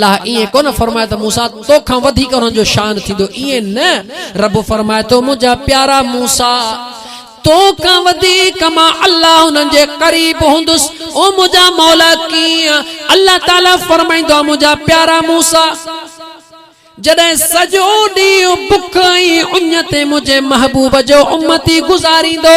الله ائين ڪونه فرمائي ته موسيٰ تو کان وڌيڪ انهن جو شان ٿيندو، ائين نه، رب فرمائي ٿو، منهنجا پيارا موسيٰ! تو کان وڌيڪ مان الله انهن جي قريب هوندس، او منهنجا مولا! ڪيئن؟ الله تعاليٰ فرمائيندو آهي، منهنجا پيارا موسيٰ! جڏهن سڄو ڏينهن بک ۽ اڃ تي منهنجي محبوب جو امتي گذاريندو،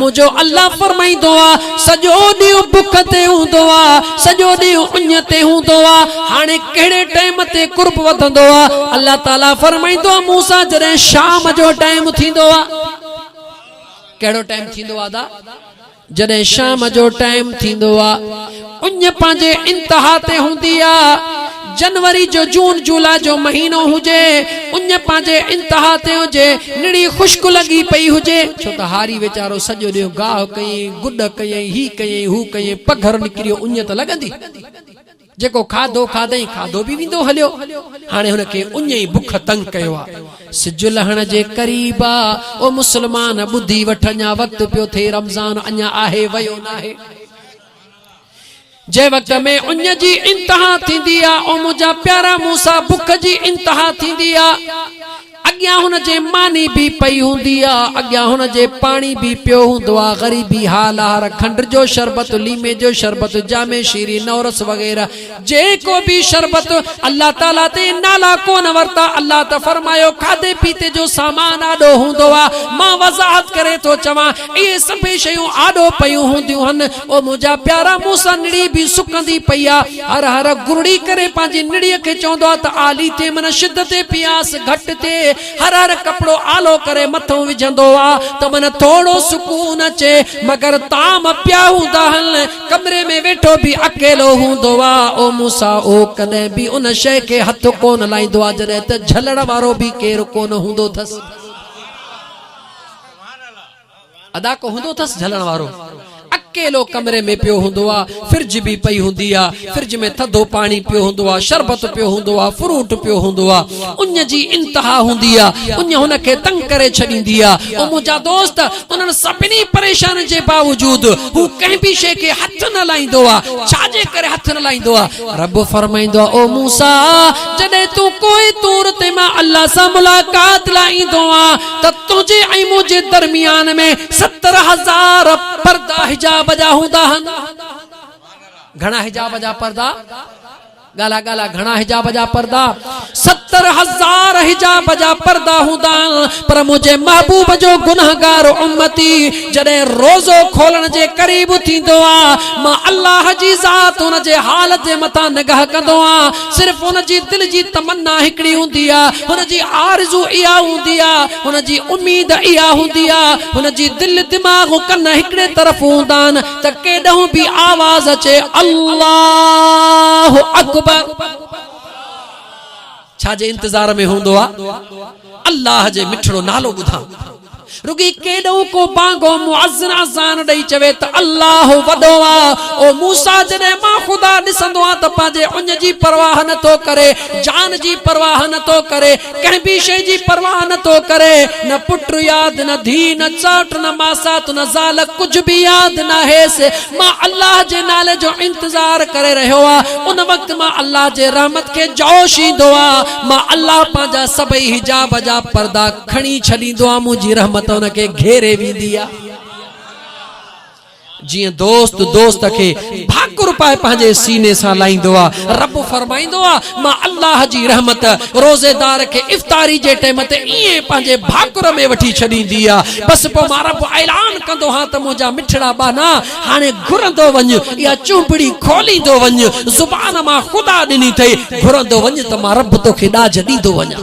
منهنجو الله فرمائيندو آ، سڄو ڏينهن بک تي هوندو آ، سڄو ڏينهن اڃ تي هوندو آ، هاڻي ڪهڙي ٽائيم تي قرب وڌندو آ؟ الله تعالي فرمائيندو آ، مون سان جڏهن شام جو ٽائيم ٿيندو آ. ڪهڙو ٽائيم ٿيندو آ ادا؟ جڏهن شام جو ٽائيم ٿيندو آ. اڃ پنهنجي انتها تي هوندي آ. جنوري جو جون جولاء جو مهينو هجي، اڃ پنهنجي انتها تي هجي، نڙي خشڪ لڳي پئي هجي، ڇو ته هاري ويچارو سڄو ڏينهن گاهه ڪيئي، گڏ ڪيئي، هي ڪيئي، هو ڪيئي، پگهر نڪريو، اڃ ته لڳندي. جيڪو کاڌو کاڌئين، کاڌو به ويندو هليو. هاڻي هن کي اڃ ئي بک تنگ ڪيو آ. سج لهڻ جي قريب آ. او مسلمان! ٻڌي وٺ، اڃا وقت پيو ٿئي، رمضان اڃا آهي، ويو ناهي. جنهن وقت ۾ اڃ جي انتها ٿيندي آ، او منهنجا پيارا مون سان بک جي انتها ٿيندي آ. اڳيان هن جي ماني به پئي هوندي آ، اڳيان هن جي پاڻي به پيو هوندو آ، غريبي حال آ، هر کنڊ جو شربت، ليمي جو شربت، جامي شيري، نورس وغيره، جيڪو به شربت الله تعالي تي نالا ڪونه ورتا الله ته فرمايو کاڌي پيتي جو سامان آڏو هوندو آ مان وضاحت ڪري ٿو چوان اهي سڀيئي شيون آڏو پيون هونديون هن او منهنجا پيارا مون سان نڙي به سڪندي پئي آ هر هر گرڙي ڪري پنهنجي نڙي کي چوندو آ ته آلي تي من شدت تي پياس گهٽ ٿئي هر هر ڪپڙو آلو ڪري مٿو وجهندو آ ته من ٿورو سڪون اچي مگر طعام پيا هوندا هن ڪمري ۾ ويٺو به اڪيلو هوندو آ. او موسيٰ! او ڪڏهن به ان شيء کي هٿ ڪونه لائيندو آ جڏهن ته جهلڻ وارو به ڪير ڪونه هوندو ٿس. ادا ڪو هوندو ٿس جهلڻ وارو؟ اڪيلو ڪمري ۾ پيو هوندو آ. فرج به پئي هوندي آ. فرج ۾ ٿڌو پاڻي پيو هوندو آ، شربت پيو هوندو آ، فروٽ پيو هوندو آ. اڃ جي انتها هوندي آ. اڃ هن کي تنگ ڪري ڇڏيندي آ. او منهنجا دوست! انهن سڀني پريشانين جي باوجود هو ڪنهن به شيء کي هٿ نه لائيندو آ، ڇا جي ڪري هٿ نه لائيندو آ؟ رب فرمائيندو آ، او موسيٰ! جڏهن تون ڪوء طور تي مان الله سان ملاقات لاء ايندو آن ته تنهنجي ۽ منهنجي درميان ۾ ستر هزار پردا حجاب جا هوندا هن. گهڻا حجاب جا پردا؟ ڳالا ڳالا گهڻا حجاب جا پردا ستر هزار حجاب جا پردا هوندا آهن پر منهنجي محبوب جو گنهگار امتي جڏهن روزو کولڻ جي قريب ٿيندو آ مان الله جي ذات ان جي حال جي مٿان نگاهه ڪندو آ صرف ان جي دل جي تمنا هڪڙي هوندي آ هن جي آرزو اها هوندي آ هن جي اميد اها هوندي آ هن جي دل دماغ ڪن هڪڙي طرف هوندا آهن ته ڪيڏانهن به آواز اچي الله اڪبر ڇا جي انتظار ۾ هوندو آ الله جي مٺڙو نالو ٻڌان رڳي ڪيڏانهن ڪو بانگو مؤذن اذان ڏئي چوي ته الله وڏو آ او موسا جڏهن مان خدا ڏسندو آ ته پنهنجي اڃ جي پرواهه نه ٿو ڪري جان جي پرواهه نه ٿو ڪري ڪنهن ٻي شيء جي پرواهه نه ٿو ڪري، نه پٽ ياد، نه ڌيء، نه چاٽ، نه ماسات، نه زال، ڪجهه به ياد ناهيس. مان الله جي نالي جو انتظار ڪري رهيو آ. ان وقت مان الله جي رحمت کي جوش ايندو آ. مان الله پنهنجا سڀئي حجاب جا پردا کڻي ڇڏيندو آ، منهنجي رحمت ان کي گهيري ويندي آ. جيئن دوست دوست کي ڀاڪر پائي پنهنجي سيني سان لائيندو آ. رب فرمائيندو آ، مان الله جي رحمت روزيدار کي افطاري جي ٽيم تي ائين پنهنجي ڀاڪر ۾ وٺي ڇڏيندي آ. بس پوء مان رب اعلان ڪندو هان ته منهنجا مٺڙا ٻانها، هاڻي گهرندو وڃ، اها چونبڙي کوليندو وڃ، زبان مان خدا ڏني اٿئي، گهرندو وڃ ته مان رب توکي ڏاج ڏيندو وڃان.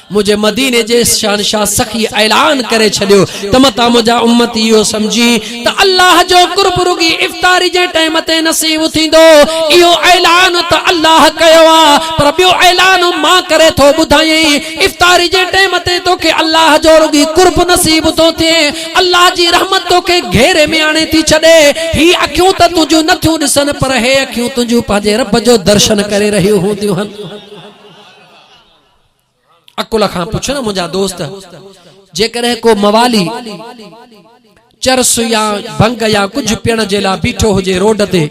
منهنجي مديني جي شهنشاهه سخي اعلان ڪري ڇڏيو ته متان منهنجا امتي اهو سمجهي ته الله جو قرب رڳي افطاري جي ٽائيم تي نصيب ٿيندو اهو اعلان ته الله ڪيو آهي پر ٻيو اعلان مان ڪري ٿو ٻڌايئين افطاري جي ٽائيم تي توکي الله جو رڳي قرب نصيب ٿو ٿئي الله جي رحمت توکي گهيري ۾ آڻي ٿي ڇڏي هي اکيون ته تنهنجون نه ٿيون ڏسن پر هي اکيون تنهنجون پنهنجي رب جو درشن ڪري رهيون هونديون آهن عقل کان پڇ نه منهنجا دوست جيڪڏهن ڪو موالي چرس يا ڀنگ يا ڪجهه پيڻ جي لا بيٺو هجي روڊ تي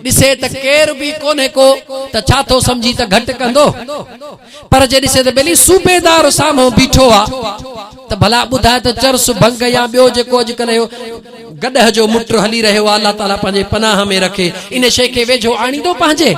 ڏسي ته ڪير به ڪونهي ڪو ته ڇا ٿو سمجهي ته گهٽ ڪندو پر جي ڏسي ته ٻلي صوبيدار سامهون بيٺو آ ته ڀلا ٻڌاء ته چرس ڀنگ يا ٻيو جيڪو اڄڪلهه اهو گڏهه جو مٽ هلي رهيو آ الله تعالي پنهنجي پناهه ۾ رکي ان شي کي ويجهو آڻيندو پنهنجي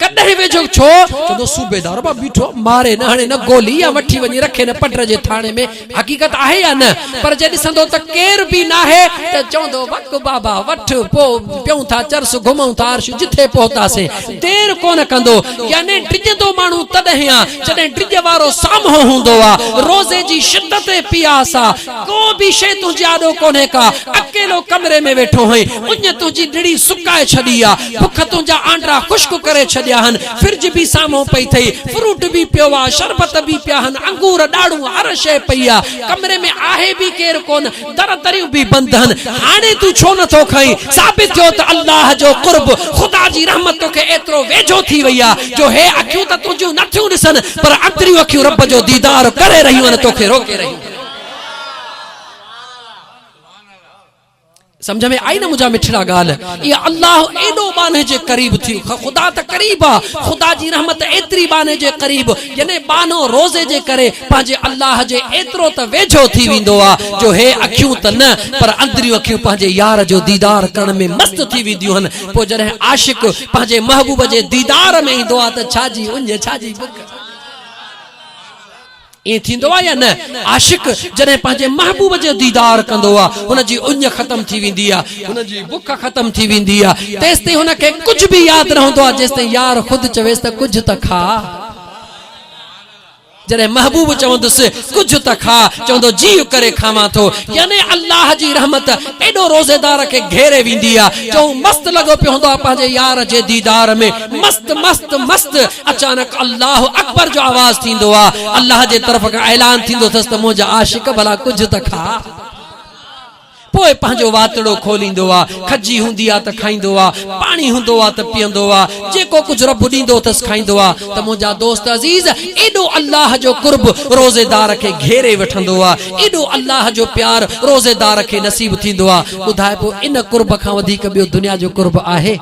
ڪڏهن ويجهو ڇو چوندو صوبيدار مان بيٺو ماري نه هڻي نه گولي يا وٺي وڃي رکي نه پٽر جي ٿاڻي ۾ حقيقت آهي يا نه پر جي ڏسندو ته ڪير به ناهي ته چوندو وڪ بابا وٺ پو پيون ٿا چرس گهمون ٿا عرش جٿي پهتاسين دير ڪونه ڪندو يعني ڊڄندو ماڻهو تڏهن آ جڏهن ڊڄ وارو سامهون هوندو آ روزي جي شدت ۽ پياس آ ڪو به شيء تنهنجي آڏو ڪونهي ڪا، اڪيلو ڪمري ۾ ويٺو هئين، اڃ تنهنجي نڙي سڪائي ڇڏي آ، بک تنهنجا آنڊا خشڪ ڪري ڇڏيا هن، فرج به سامهون پئي ٿئي، فروٽ به پيو آ، شربت به پيا هن، انگور، ڏاڙهون، هر شيء پئي آ، ڪمري ۾ آهي به ڪير ڪونه، در دريون به بند هن، هاڻي تون ڇو نه ٿو کائين، ثابت ٿيو ته الله جو قرب، خدا جي رحمت توکي ايترو ويجهو ٿي وئي آ، جو هي اکيون ته تنهنجيون نه ٿيون ڏسن، پر اندريون اکيون رب جو ديدار ڪري رهيون آهن، توکي روڪي رهيون آهن. سمجھ ۾ آئي نه منهنجا مٺڙا ڳالهه اي الله ايڏو ٻانهي جي قريب ٿي خدا ته قريب آ خدا جي رحمت ايتري ٻانهي جي قريب يعني ٻانهو روزي جي ڪري پنهنجي الله جي ايترو ته ويجهو ٿي ويندو آ جو هي اکيون ته نه پر اندريون اکيون پنهنجي يار جو ديدار ڪرڻ ۾ مست ٿي وينديون هن پوء جڏهن عاشق پنهنجي محبوب جي ديدار ۾ ايندو آ ته ڇا جي اڃ ڇا جي بک ائين ٿيندو آهي يا نه؟ عاشق جڏهن پنهنجي محبوب جو ديدار ڪندو آهي، هن جي اڃ ختم ٿي ويندي آهي، هن جي بک ختم ٿي ويندي آهي، تيستائين هن کي ڪجهه به ياد نه هوندو آهي، جيستائين يار خود چويس ته ڪجهه ته کاء. جڏهن محبوب چوندس ڪجهه ته کاء، چوندو جيء ڪري کاوان ٿو. يعني الله جي رحمت ايڏو روزيدار کي گهيري ويندي آهي، جو هو مست لڳو پيو هوندو آهي پنهنجي يار جي ديدار ۾، مست مست مست! اچانڪ الله اڪبر جو آواز ٿيندو آ الله جي طرف کان اعلان ٿيندو ٿس ته منهنجا عاشق ڀلا ڪجهه ته کاء پوء پنهنجو واتڙو کوليندو آ کجي هوندي آ ته کائيندو آ پاڻي هوندو آ ته پيئندو آ جيڪو ڪجهه رب ڏيندو ٿس کائيندو آ ته منهنجا دوست عزيز ايڏو الله جو قرب روزي دار کي گهيري وٺندو آ ايڏو الله جو پيار روزي دار کي نصيب ٿيندو آ ٻڌاء پوء ان قرب کان وڌيڪ ٻيو دنيا جو قرب آهي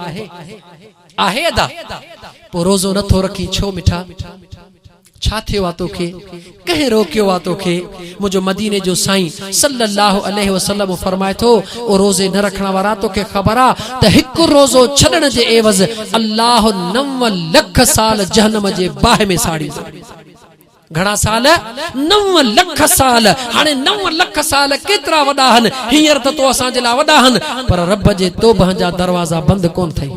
آهي ادا! پوء روزو نه ٿو رکين ڇو مٺا؟ ڇا ٿيو آ توکي؟ ڪنهن روڪيو آ توکي؟ منهنجو مديني جو سائين صلّي اللّٰه عليه وسلّم فرمائي ٿو، او روزي نه رکڻ وارا توکي خبر آ ته هڪ روزو ڇڏڻ جي عيوض الله نو لک سال جهنّم جي باهه ۾ ساڙيندو. گهڻا سال؟ نو لک سال. هاڻي نو لک سال ڪيترا وڏا هن؟ هينئر ته تو اسان جي لاء وڏا هن، پر رب جي توبهه جا دروازا بند ڪونه ٿئي.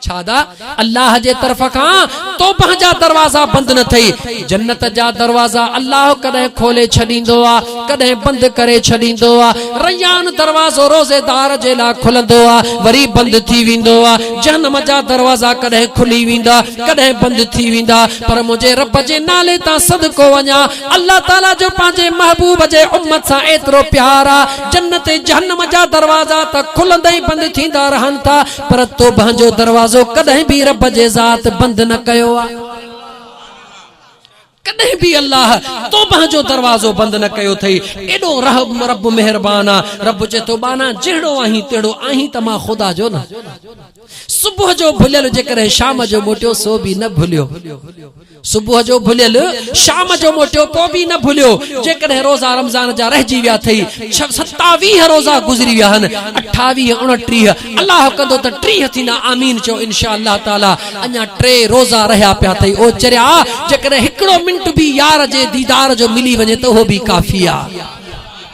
ڇا دا؟ الله جي طرف کان توبهه جا دروازا بند نه ٿئي. جنت جا دروازا الله ڪڏهن کولي ڇڏيندو آ، ڪڏهن بند ڪري ڇڏيندو آ. ريان دروازو روزيدار جي لاء کلندو آ، وري بند ٿي ويندو آ. جهنم جا دروازا ڪڏهن کلي ويندا، ڪڏهن بند ٿي ويندا. پر منهنجي رب جي نالي تان صدقو وڃان، الله تعاليٰ جو پنهنجي محبوب جي امت سان ايترو پيار آ، جنت ۽ جهنم جا دروازا ته کلندا ۽ بند ٿيندا رهن ٿا، پر توبهه جو دروازو ڪڏهن به رب جي ذات بند نه ڪيو آ. ڪڏهن به الله توبهه جو دروازو بند نه ڪيو اٿئي، ايڏو رحم رب مهربان آ، رب چئي ٿو، ٻانها جهڙو آهين تهڙو آهين ته مان خدا جو نه. صبح جو ڀليل جيڪڏهن شام جو موٽيو سو به نه ڀليو صبح جو ڀليل شام جو موٽيو پوء به نه ڀليو جيڪڏهن روزا رمضان جا رهجي ويا اٿئي ستاويهه روزا گذري ويا آهن اٺاويهه اڻٽيهه الله ڪندو ته ٽيهه ٿيندا آمين چئو انشاء الله تعالي اڃا ٽي روزا رهيا پيا اٿئي او چريا جيڪڏهن هڪڙو منٽ به يار جي ديدار جو ملي وڃي ته اهو به ڪافي آهي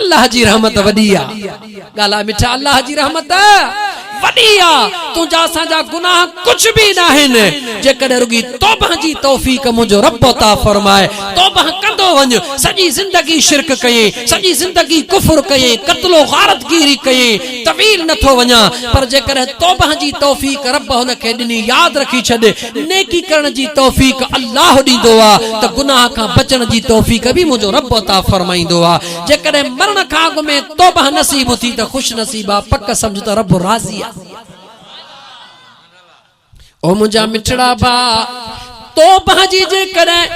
الله جي رحمت وڏي آ ڳالهاء مٺا الله جي رحمت وڏي آ تنهنجا اسان جا گناهه ڪجهه به ناهن جيڪڏهن رڳي توبه جي توفيق منهنجو رب عطا فرمائي توبه ڪندو وڃ سڄي زندگي شرڪ ڪيئين سڄي زندگي ڪفر ڪيئين قتل و غارت گيري ڪيئين طويل نٿو وڃان پر جيڪڏهن توبه جي توفيق رب هن کي ڏني ياد رکي ڇڏ نيڪي ڪرڻ جي توفيق الله ڏيندو آ ته گناهه کان بچڻ جي توفيق به منهنجو رب عطا فرمائيندو آ. جيڪڏهن مرڻ کان اڳ ۾ توبه نصيب اٿي ته خوش نصيب آ، پڪ سمجهه ته رب راضي آ. او منهنجا مٺڙا ڀاء! توبه جي جيڪڏهن.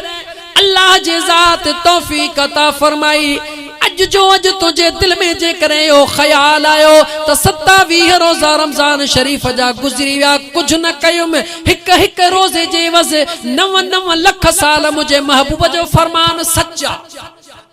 الله جي ذات توفيق عطا فرمائي. اڄ جو اڄ تنهنجي دل ۾ جيڪڏهن اهو خيال آيو ته ستاويهه روزا رمضان شريف جا گذري ويا ڪجهه نه ڪيم هڪ هڪ روزي جي عوض نو نو لک سال منهنجي محبوب جو فرمان سچ آ.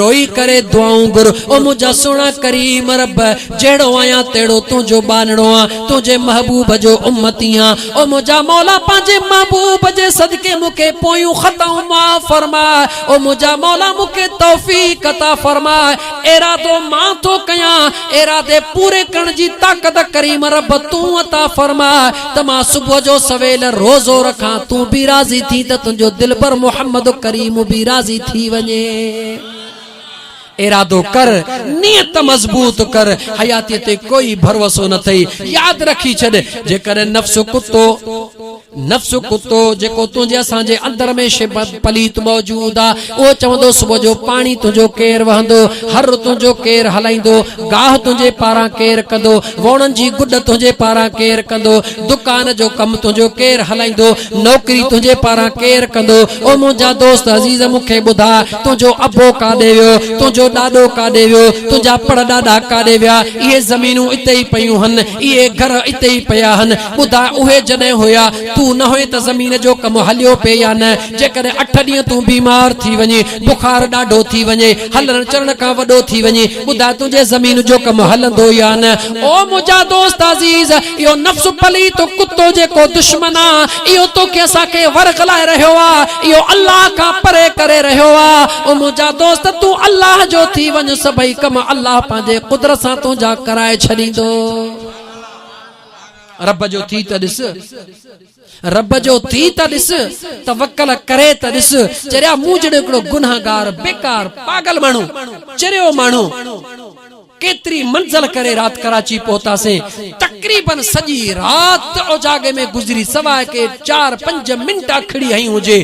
روئي ڪري دعائون گهر او منهنجا سهڻا ڪريم رب جهڙو آهيان تهڙو تنهنجو ٻانهڙو آن تنهنجي محبوب جو امتي آن او منهنجا مولا پنهنجي محبوب جي صدقي مون کي پويون خطائون معاف فرماء او منهنجا مولا مون کي توفيق عطا فرماء ارادو مان ٿو ڪيان ارادي پوري ڪرڻ جي طاقت ڪريم رب تون عطا فرماء ته مان صبح جو سويل روزو رکان، تون به راضي ٿين ته تنهنجو دلبر محمد ڪريم به راضي ٿي وڃي. ارادو ڪر، نيت مضبوط ڪر، حياتيء تي ڪوئي ڀروسو نه اٿئي، ياد رکي ڇڏ، جيڪڏهن نفس ڪتو، نفس ڪتو، جيڪو تنهنجي اسان جي اندر ۾ شبه پليت موجود آ، اهو چوندو صبح جو پاڻي تنهنجو ڪير وهندو، هر تنهنجو ڪير هلائيندو، گاهه تنهنجي پاران ڪير ڪندو، ووڻن جي گڏ تنهنجي پاران ڪير ڪندو، دڪان جو ڪم تنهنجو ڪير هلائيندو، نوڪري تنهنجي پاران ڪير ڪندو، او منهنجا دوست عزيز مون کي ٻڌاء تنهنجو ابو ڪاڏي ويو، تنهنجو ڏاڏو ڪاڏي ويو، تنهنجا پڙ ڏاڏا ڪاڏي ويا، اهي زمينون اتي ئي پيون هن، اهي گهر اتي ئي پيا هن، ٻڌاء اهي جڏهن هيا تون نه هئين ته زمين جو ڪم هليو پئي يا نه، جيڪڏهن اٺ ڏينهن تون بيمار ٿي وڃين، بخار ڏاڍو ٿي وڃي، هلڻ چلڻ کان وڏو ٿي وڃين، ٻڌاء تنهنجي زمين جو ڪم هلندو يا نه؟ او منهنجا دوست عزيز! اهو نفس پليت ڪتو جيڪو دشمن آ، اهو توکي اسان کي ورغلائي رهيو آ، اهو الله کان پري ڪري رهيو آ. او منهنجا دوست! تون الله جو ٿي وڃ، سڀئي ڪم الله پنهنجي قدرت سان تنهنجا ڪرائي ڇڏيندو. رب جو ٿي ته ڏس! رب جو ٿي ته ڏس، توڪل ڪري ته ڏس، چريا مون جهڙو هڪڙو گنهگار، بيڪار، پاڳل ماڻهو، چريو ماڻهو، ڪيتري منزل ڪري رات ڪراچي پهتاسين، تقريباً سڄي رات اجاڳي ۾ گذري، سواء ڪي چار پنج منٽ اکڙي هنئي هجي،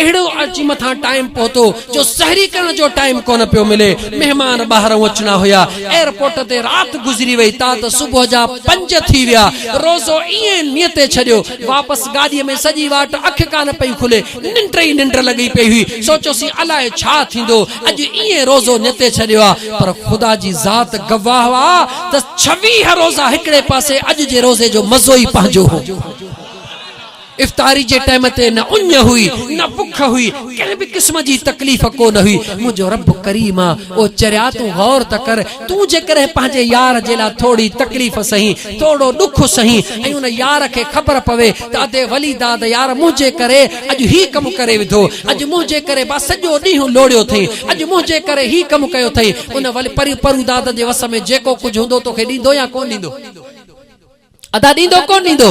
اهڙو عرض مٿان ٽائيم پهتو جو سحري ڪرڻ جو ٽائيم ڪونه پيو ملي مهمان ٻاهرئون اچڻا هيا ايئرپورٽ تي رات گذري وئي تات صبح جا پنج ٿي ويا روزو ايئن نيتي ڇڏيو واپس گاڏي ۾ سڄي واٽ اک ڪانه پئي کلي ننڊ ئي ننڊ لڳي پئي هئي سوچيوسين الاء ڇا ٿيندو اڄ ايئن روزو نيتي ڇڏيو آ پر خدا جي ذات گواهه آ ته ڇويهه روزا هڪڙي پاسي اڄ جي روزي جو مزو ئي پنهنجو هو. افطاري جي ٽيم تي نه اڃ هئي، نه بک هئي، ڪنهن به قسم جي تڪليف ڪو نه هئي. منهنجو رب ڪريم آ. او چريا تون غور ته ڪر، تون جيڪڏهن پنهنجي يار جي لاء ٿورڙي تڪليف سهين، ٿورڙو ڏک سهين ۽ ان يار کي خبر پوي ته ادي ولي داد يار منهنجي ڪري اڄ هي ڪم ڪري وڌو، اڄ منهنجي ڪري با سڄو ڏينهن لوڙيو ٿئين، اڄ منهنجي ڪري هي ڪم ڪيو ٿئين، ان ولي پروداد جي وس ۾ جيڪو ڪجهه هوندو توکي ڏيندو يا ڪونه ڏيندو؟ ادا ڏيندو ڪونه ڏيندو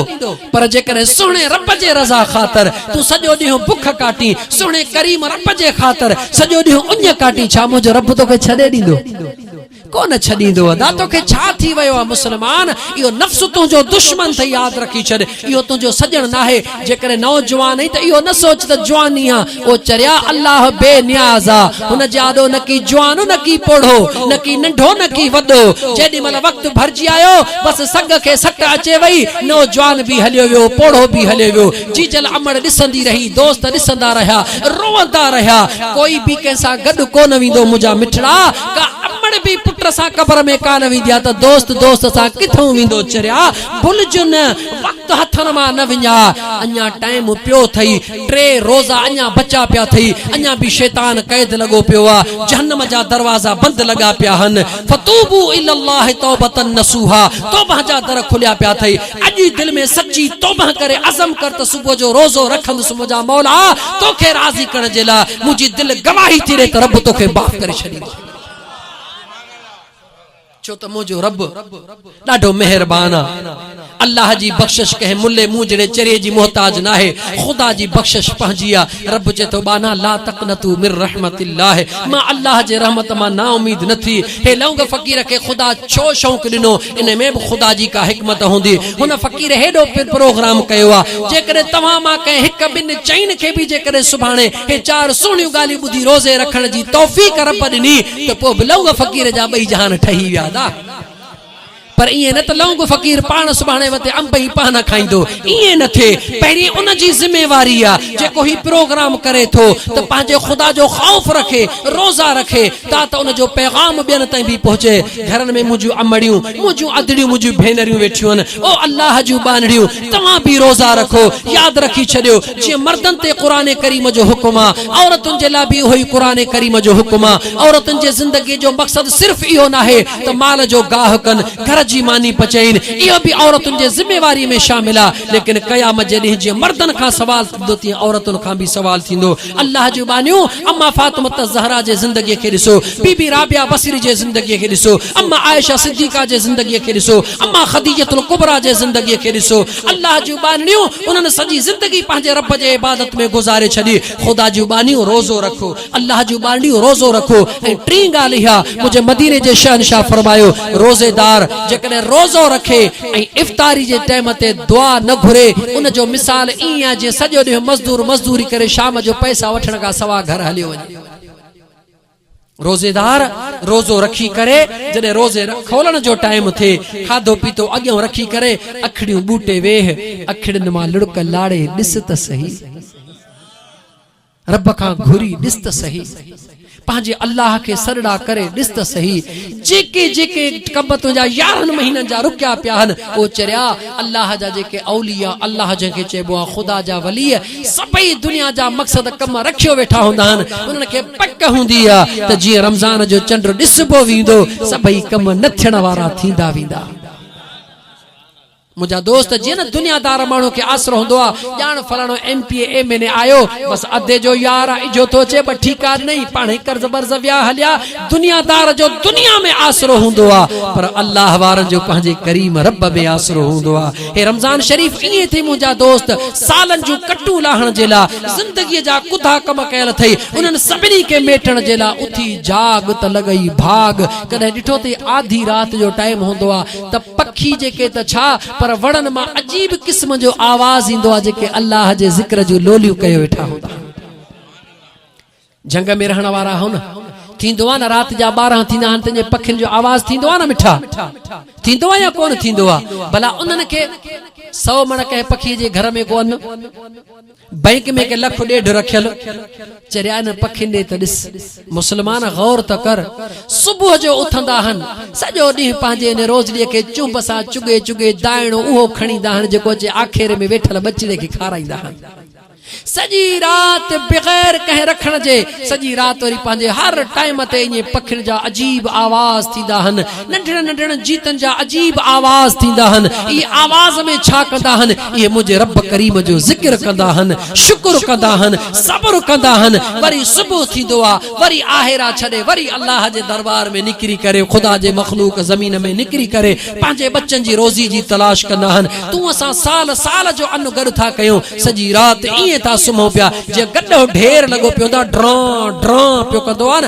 پر جيڪڏهن سهڻي رب جي رضا خاطر تون سڄو ڏينهن بک ڪاٽين سهڻي ڪريم رب جي خاطر سڄو ڏينهن اڃ ڪاٽين ڇا منهنجو رب توکي ڇڏي ڏيندو ڪونه ڇڏيندو ادا توکي ڇا ٿي ويو آ مسلمان اهو نفس تنهنجو دشمن ٿئي ياد رکي ڇڏ اهو تنهنجو سڄڻ ناهي جيڪڏهن نوجوان آهين ته اهو نه سوچ ته جواني آ او چريا الله بي نياز آ هن جي آڏو نه ڪي جوان نه ڪي پوڙهو نه ڪي ننڍو نه ڪي وڏو جيڏي مهل وقت ڀرجي آيو بس سڳ کي سٽ اچي وئي نوجوان به هليو ويو پوڙهو به هليو ويو جيجل امڙ ڏسندي رهي دوست ڏسندا رهيا روئندا رهيا ڪوئي به ڪنهن سان گڏ ڪونه ويندو منهنجا مٺڙا ڪا امڙ به پٽ سان قبر ۾ ڪانه ويندي آ ته دوست دوست سان ڪٿئون ويندو چريا ڀلجو نه وقت هٿن مان نه وڃاء اڃا ٽائيم پيو اٿئي ٽي روزا اڃا بچا پيا ٿئي، اڃا به شيطان قيد لڳو پيو آ، جهنم جا دروازا بند لڳا پيا هن، فتوبو الي الله توبة نصوحا، توبه جا در کليا پيا ٿئي، اڄ ئي دل ۾ سچي توبه ڪري عزم ڪر ته صبح جو روزو رکندس منهنجا مولا توکي راضي ڪرڻ جي لاء منهنجي دل گواهي ٿي ڏي ته رب توکي معاف ڪري ڇڏيندو. ڇو ته منهنجو رب ڏاڍو مهربان آ. الله جي بخشش ڪنهن ملي مون جهڙي چريي جي محتاج ناهي. خدا جي بخشش پنهنجي آ. رب چئي ٿو ٻانها لا تقنطوا من رحمت الله مان الله جي رحمت مان نااميد نه ٿي. هي لونگ فقير کي خدا ڇو شونق ڏنو؟ انهي ۾ به خدا جي ڪا حڪمت هوندي. هن فقير هيڏو پروگرام ڪيو آ. جيڪڏهن توهان مان ڪنهن هڪ ٻن چئن کي به جيڪڏهن سڀاڻي هي چار سهڻيون ڳالهيون ٻڌي روزي رکڻ جي توفيق رب ڏني ته پوء به لونگ فقير جا ٻئي جهان ٺهي ويا ها پر ائين نه ته لونگ فقير پاڻ سڀاڻي وتي انب ۽ پانا کائيندو ائين نه ٿئي پهرين ان جي ذميواري آ جيڪو هي پروگرام ڪري ٿو ته پنهنجي خدا جو خوف رکي روزا رکي تا ته ان جو پيغام ٻين تائين به پهچي گهرن ۾ منهنجيون امڙيون منهنجيون ادڙيون منهنجيون ڀينريون ويٺيون آهن او الله جون ٻانهڙيون توهان به روزا رکو ياد رکي ڇڏيو جيئن مردن تي قرآن ڪريم جو حڪم آ، عورتن جي لاء به اهوئي قرآن ڪريم جو حڪم آ. عورتن جي زندگيء جو مقصد صرف اهو ناهي ته مال جو گاهه ڪن، گهر جي ماني پچائين، اهو به عورتن جي ذميواريء ۾ شامل آ، ليڪن قيامت جي ڏينهن جيئن مردن کان سوال ٿيندو تيئن عورتن کان به سوال ٿيندو. الله جون ٻانهيون! اما فاطمة الزهراء جي زندگيء کي ڏسو، بي بي رابعه بصري جي زندگيء کي ڏسو، اما عائشه صديقه جي زندگيء کي ڏسو، اما خديجة الڪبريٰ جي زندگيء کي ڏسو، الله جون ٻانهڙيون، انهن سڄي زندگي پنهنجي رب جي عبادت ۾ گذاري ڇڏي. خدا جون ٻانهيون، روزو رکو. الله جون ٻانهڙيون، روزو رکو. ۽ ٽين ڳالهه اها، منهنجي مديني جي شهنشاهه فرمايو، روزيدار جيڪڏهن روزو رکي ۽ افطاري جي ٽيم تي دعا نه گهري، ان جو مثال ائين آهي جيئن سڄو ڏينهن مزدور مزدوري ڪري شام جو پئسا وٺڻ کان سواء گهر هليو وڃي. روزيدار روزو رکي ڪري جڏهن روزي کولڻ جو ٽائيم ٿئي کاڌو پيتو اڳيئون رکي ڪري اکڙيون ٻوٽي ويهه اکڙين مان لڙڪ لاڙي ڏس ته سهي رب کان گهري ڏس ته سهي پنهنجي الله کي سڏڙا ڪري ڏس ته سهي جيڪي جيڪي ڪٻ تنهنجا يارهن مهينن جا رڪيا پيا هن او چريا! الله جا جيڪي اولياء، الله جنهن کي چئبو آهي خدا جا وليء، سڀئي دنيا جا مقصد ڪم رکيو ويٺا هوندا آهن، انهن کي پڪ هوندي آهي ته جيئن رمضان جو چنڊ ڏسبو ويندو، سڀئي ڪم نه ٿيڻ وارا ٿيندا ويندا. منهنجا دوست جيئن نه دنيا دار ماڻهو کي آسرو هوندو آ ڄاڻ فلاڻو M P A M N A آيو بس ادي جو يار آ اجهو ٿو اچي ٻه ٺيڪا ڏنئي پاڻهي قرض برض ويا هليا دنيا دار جو دنيا ۾ آسرو هوندو آ پر الله وارن جو پنهنجي ڪريم رب ۾ آسرو هوندو آ هي رمضان شريف ائين ٿي منهنجا دوست سالن جون ڪٽون لاهڻ جي لا زندگي جا ڪڌا ڪم ڪيل اٿئي انهن سڀني کي ميٽڻ جي لا اٿي جاڳ ته لڳئي ڀاڳ ڪڏهن ڏٺو اٿئي آڌي رات جو ٽائيم هوندو آ ته پکي جيڪي ته ڇا پر وڻن مان عجيب قسم جو آواز ايندو آهي جيڪي الله جي ذڪر جون لوليون ڪيو ويٺا هوندا آهن جهنگ ۾ رهڻ وارا آهو نه ٿيندو آهي نه رات جا ٻارهن ٿيندا آهن تنهن جي پکين جو آواز ٿيندو آهي نه مٺا ٿيندو آهي يا ڪونه ٿيندو آهي ڀلا انهن کي سو مڻ ڪنهن پکي جي گهر ۾ ڪونه بئنڪ ۾ ڪي لک ڏيڍ رکيل چريا انهن پکين ڏي ته ڏس. مسلمان غور ته ڪر. صبح جو اٿندا آهن، سڄو ڏينهن پنهنجي انهي روزڙيء کي چنب سان چگهي چگهي دائڻو اهو کڻيندا آهن جيڪو اچي آکيري ۾ ويٺل ٻچڙي کي کارائيندا آهن. سڄي رات بغير ڪنهن رکڻ جي سڄي رات وري پنهنجي هر ٽائيم تي ائين پکين جا عجيب آواز ٿيندا آهن ننڍڙن ننڍڙن جيتن جا عجيب آواز ٿيندا هن، اهي آواز ۾ ڇا ڪندا هن؟ اهي منهنجي رب ڪريم جو ذڪر ڪندا هن، شڪر ڪندا هن، صبر ڪندا هن، وري صبح ٿيندو آ، وري آهيرا ڇڏي وري الله جي دربار ۾ نڪري ڪري خدا جي مخلوق زمين ۾ نڪري ڪري پنهنجي ٻچن جي روزي جي تلاش ڪندا هن، تون اسان سال سال جو ان گڏ ٿا ڪيون، سڄي رات ائين ٿا سمهون پيا جيئن گڏهو ڍير لڳو پيو هوندا ڊران ڊران پيو ڪندو آ نه،